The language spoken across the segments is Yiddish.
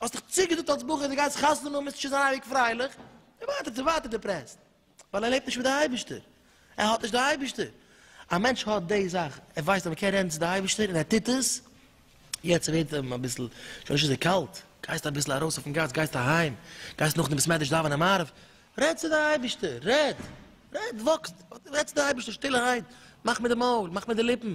האסט דיך צוגעזאגט אלס בחור אז דו גייסט חתונה האבן מוזסטו שוין זיין אייביג פרייליך, די ווייטער די ווייטער דיפרעסט, ווייל ער לעבט נישט מיט די אייבערשטער, ער האט נישט די אייבערשטער, א מענטש האט די זאך, ער ווייסט אז מען קען רעדן צו די אייבערשטער און ער טוט עס, יעצט ווערט אים אביסל שוין נישט אזוי קאלט, גייסט אביסל ארויס אויפן גאס, גייסט אהיים, גייסט נאכדעם בית מדרש דאווענען מעריב, רעד צו די אייבערשטער, רעד, רעד, וואקסט, רעד צו די אייבערשטער שטילערהייט, מאך מיט די מויל, מאך מיט די ליפן,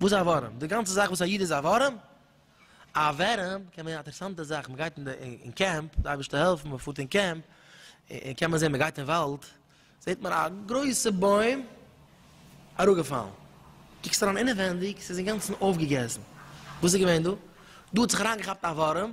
וואס איז א ווארעם? די גאנצע זאך וואס א איד איז א ווארעם, א ווערעם קען ווערן א אטערעסאנטע זאך, מען גייט אין די אין קעמפ, די אייבערשטער העלפן, מען פארט אין קעמפ, און קען מען זען, מען גייט אין וואלד, זעט מען א גרויסע בוים אראפגעפאלן, קוקסט אריין אינעווענדיג, ס'איז אינגאנצן אויפגעגעסן, וואס איז געווען דא? דא האט זיך אריינגעכאפט א ווארעם.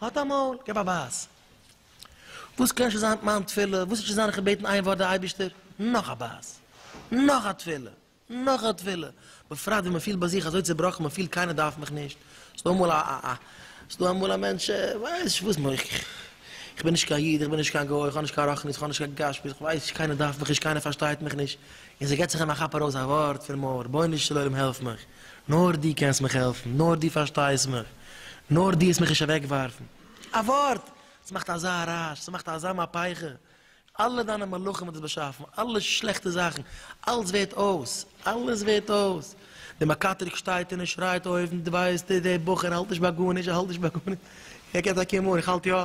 האט א מויל, געב א בייס. וואס קען שוין זיין מיין תפילה, וואס איז שוין זיין איך האב געבעטן איין ווארט די אייבערשטער, נאך א בייס, נאך א תפילה, נאך א תפילה, בפרט ווען מען פילט ביי זיך אזוי צעבראכן, מען פילט קיינער דארף מיך נישט, ס'איז דא אמאל א א א ס'איז דא אמאל א מענטש ווייס נישט וואס מח, איך בין נישט קיין איד, איך בין נישט קיין גוי, איך האב נישט קיין רחניות, איך האב נישט קיין גשמיות, איך ווייס נישט, קיינער דארף מיך נישט, קיינער פארשטייט מיך נישט, און ס'געט זיך אים א כאפ ארויס א ווארט פון מויל, רבונו של עולם העלף מיך, נאר דו קענסט מיך העלפן, נאר דו פארשטייסט מיך, נאר דו העסט מיך נישט אוועקווארפן. א ווארט! ס'מאכט אזא רעש, ס'מאכט אזא מהפכה, אלע דיינע מלאכים האט עס באשאפן, אלע שלעכטע זאכן, אלץ ווערט אויס, אלעס ווערט אויס, דער מקטרג שטייט און ער שרייט אויבן, דו ווייסט, דער בחור האלט נישט ביי גארנישט, ער האלט נישט ביי גארנישט, ער קען טאקע מארן, איך האלט יא.